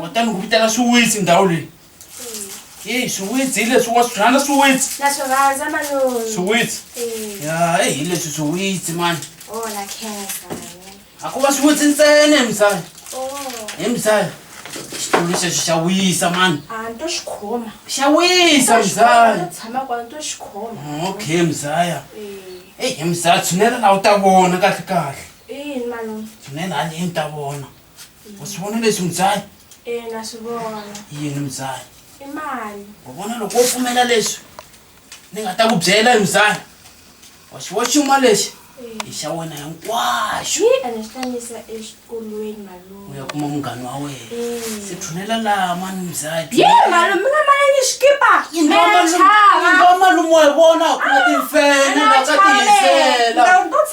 kutani ku vitana swiwitsi ndhawu leyi eyi swiwitsi hi leswi wa swihlana swiwitsi na swi rhandza malume swiwitsi Eh, ya eyi hi leswi swiwitsi mani oh na khensa malume a ku va swiwitsi ntsena hi misava oh hi misava xitulu xexi xa wisa mani a ni to xi khoma xa wisa to misava tshama kwala ni to xi khoma okay misava Eh, eyi hi misava tshunela laha u ta vona kahle kahle yini malume tshunela haleni ta vona u swi vona leswi mudzayi ina swi vona yini mudzayi i mali u vona loko wo pfumela leswi ni nga ta ku byela hi mudzayi wa xiwo xin'wa lexi hi xa wena hinkwaxo ene xi tanyisa exikolweni malume u ya kuma munghani wa wena se thunela laha mani mudzayi ye malume mi nga malangi xikipa malume wa vona ku na timfene la ka tihisela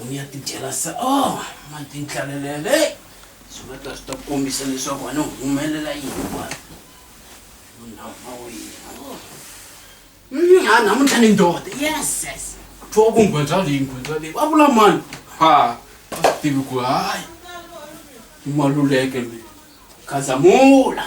u ya ti dyela sa o oh, mati nhlalelele swi nga ta swi ta kombisa leswaku a ni humelela yini wani munhama wina oh. mm, a namuntlha ni ndoda yes yes twa ku nghwenza leyi nghwenza leyi va vula mani ha a swi tivi ku hayi i maluleke mi khazamula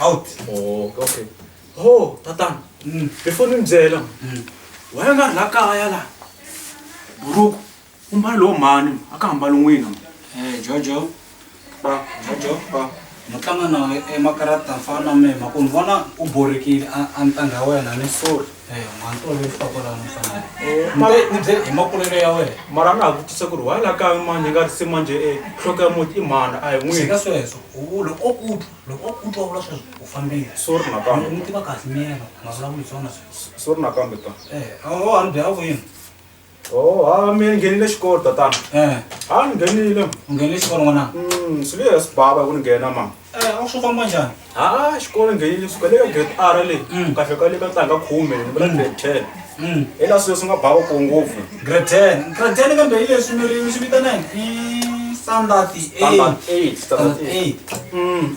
out oh okay ho tatana mm. before ni mi byela mm. wena u nga ri la kaya la buruku u mbala lowo mhani a ka hambali n'wina eh, jojo ba jojo ba ni tlanga na emakarata fana na mema ku ni vona u borikile a ni tanga wena ni sori mara na ha vutisa ku ri wa la kaya manje nga ri se manje e nhloko ya muti i mhana a hi n'wini sweswo loko o kutwa loko o kutwa vula sweswo u fambile sorry nakambe n'wi tiva kahle miyena mavulavula hi swona sweswo sorry nakambe ta a ni byi a vuyini Oh, ha mi nghenile xikolo tatana. Eh. Ha ni nghenile. Nghenile xikolo n'wana. Mm, swi le swi bava ku ni nghena ma. Eh, a swi famba njhani? Ha, xikolo nghenile suka le ka grade R le. Mm. Ku kahle ka le ka tlanga khume, ni vula mm. grade 10. Mm. Hi la sweswi nga bava ko ngopfu. Grade 10. Grade 10 kambe hi leswi mi ri mi swi vitana yini? Standard 8. Standard 8. Standard 8. Mm.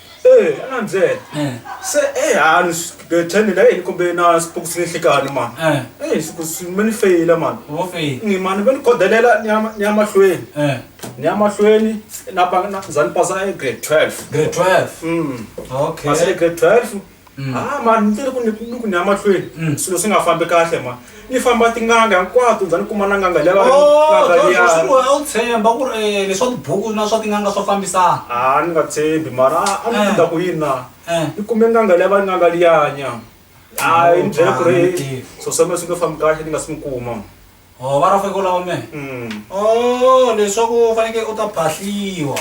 Eh, ana mzee. Eh. Se eh hanu bethende la yini kumbe na sipuku sinihlikani man. Eh. Eh siku simeni feyila man. Wo feyi. Ni man beni kodelela nyama nyama hlweni. Eh. Nyama hlweni na ba na zani pasa e grade 12. Grade 12. Mm. Okay. Pasa e grade 12. Mm. Ah, ma ni tele ku ni ni ku ni ya mahlweni Mm. swilo swi nga fambi kahle ma ni famba tin'anga hinkwato ndza ni kuma na n'anga liya va ri- Oh, n'anga George, liya. swi wena u tshemba ku ri eh, leswa tibuku na swa tin'anga swa fambisana Ah, ni nga tshembi mara a- a ni Eh. kunda ku yini na Eh. ni kume n'anga liya va ri n'anga liyanya Oh, hayi ni byele ku ri ah, so swa mina swi nge fambi kahle ni nga si n'wi kuma o va rafeke u lava mehe mm. o oh, leswaku u fanekele u ta phahliwa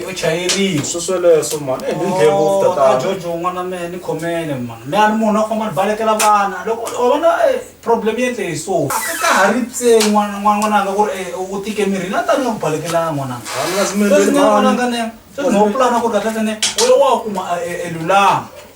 u chayeriwa swi sweleswo mani eh, ni ndlhe ngopfu oh, tatana jojo un'wana mehe ni khomele mani mehe a ni munhu a khoma ni balekela vana loko u vona eh, problem yi endle hi so a ka ka ha ri tse n'wananga ku ri eh, u tike mirini a tani ya ku balekela n'wananga sweswi nga n'wananga ne sweswi no pulana ku ri kahle tene u ya wa kuma lulama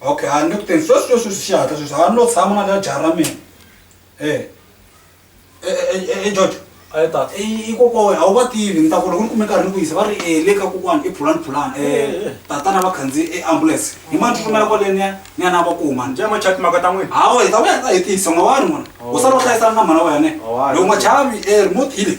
okay a ni ku teni sweswi sweswi swi xihatla sweswi a ni lo tshama na na jaha ra mina e e george a yi tata i kokwana a wu va tivi ni ta ku loko ni kume nkarhi ni ku yisa va ri e le ka kokwana i phulani phulani um tatana va khandziyi eambulense hi mani tsutsumela kwale ni ya ni ya na va kuma ni njema chat maka ta n'wina hawa hi ta vuya ta hi tiyisa n'wa wa ri n'wana u sala u hlayisana na mhana wa yane loko n'wachavi e remote yile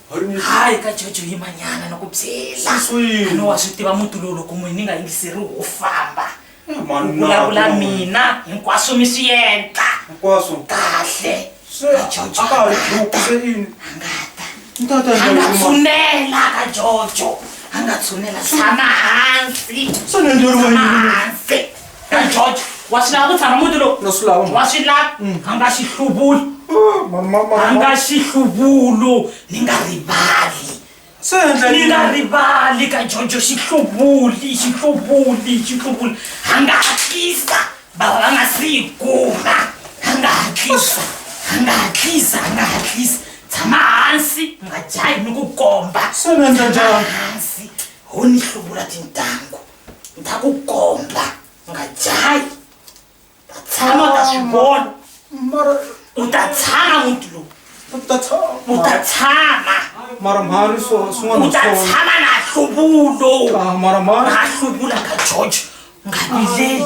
hayi ka jojo yimanyana ni ku byela ani wa swi tiva muti lowu loko n'wini ni nga yingiseri wo famba eh, u vulavula mina hinkwaswo mi swi endla hinkwaswo kahle anga tshunela ka jojo anga tshunela tshama hansi tshama hansi Hey, George, wa swi lava ku tshama muti lowu Na swi lava, mhani. wa swi lava a nga xi hluvuli Ah, mhani, mhani, a mhani, nga mhani. xi hluvulu ni nga rivali Se endla ni yini? nga rivali ka jojo xi hluvuli xi hluvuli xi hluvuli a nga hatlisa bava va nga si yi kuma a nga hatlisa a nga hatlisa a nga hatlisa tshama hansi mi nga jahi ni ku komba Se ni endla njhani? hansi ho ni hluvula tintangu ndakukomba nga jayi tshama ka swivona mara u ta tshama muti lowu u ta tshama u ta tshama mara mhani swin'wana u ta tshama na hluvulo ah, mara mhani na hluvula ka george nga vileli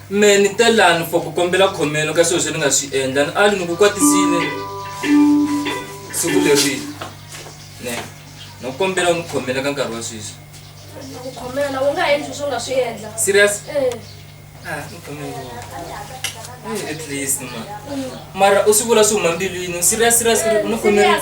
Me ni te lani for ku kombela khomelo ka swilo swi ni nga swi endla ni ali ni ku kwatisile siku leri ne no kombela u ni khomela ka nkarhi wa sweswi khomela u nga endli swo nga swi endla serious eh. ah, at least ma mara u swi vula swi huma mbilwini serious serious ni khomerile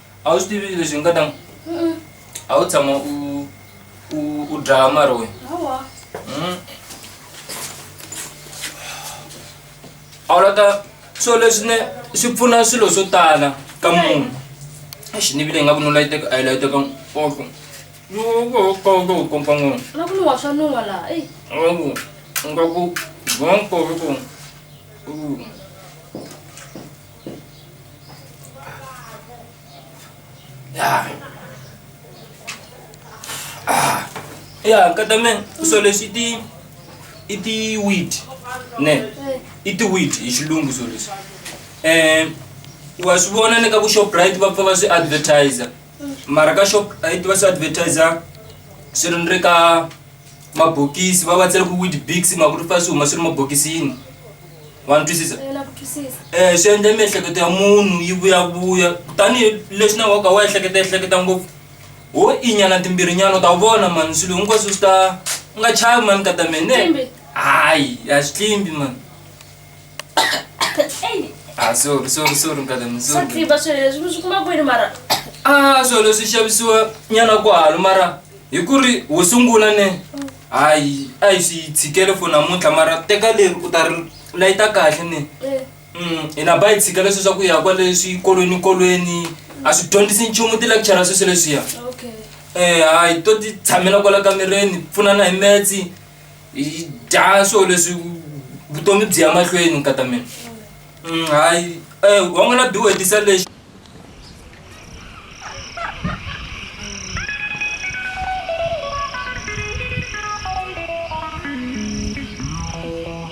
a wu swi tivi leswi nga ta a wu tshama u u u dlaya mari wena hawa Mm. a wu lata swilo leswi ne swi pfuna swilo swo tala ka munhu exi ni vile nga ku no layiteka a yi layiteka oko kompa n'wana na ku ni wa swa nuwa laha eyi Algo, un poco, un poco, uh, ya nkata me so leswi i ti i ti weed ne i ti weed hi xilungu so leswi um wa swi vona ni ka ku shoprite va pfa va swi advertiser mara ka shoprite va swi advertiser swi ri ni ri ka mabokisi va va tsele ku wid bigs ma ku ri fa swi huma swi ri mabokisini wa ni twisisa um swi endle miehleketo ya munhu yi vuyavuya tanihi leswi na waka wa ehleketa ehleketa ngopfu ho inyana timbirhinyana u ta vona mani swilo hinkwaswo swi ta u nga chavi mani ka ta mene hayi a swi tlimbi mani Ah, sorry, sorry, sorry, brother, I'm sorry. sakriba swilo leswi mi swi kuma kwini mara Ah, swilo leswi xavisiwa nyana ku halo mara hi ku ri wo sungula ne hayi a hi swi tshikele for namuntlha mara teka leri u ta ri layita kahle ne Eh, Mm, hina ba hi tshikele sweswa ku ya kwale swikolweni kolweni a swi dyondzisi nchumu ti-lecture sweswo leswiya okay um hayi to ti tshamela kwala kamereni pfunana hi metsi hi dya swilo leswi vutomi byi ya mahlweni nkata mina mm, hayi um eh, wa n'wina biwe tisa lexi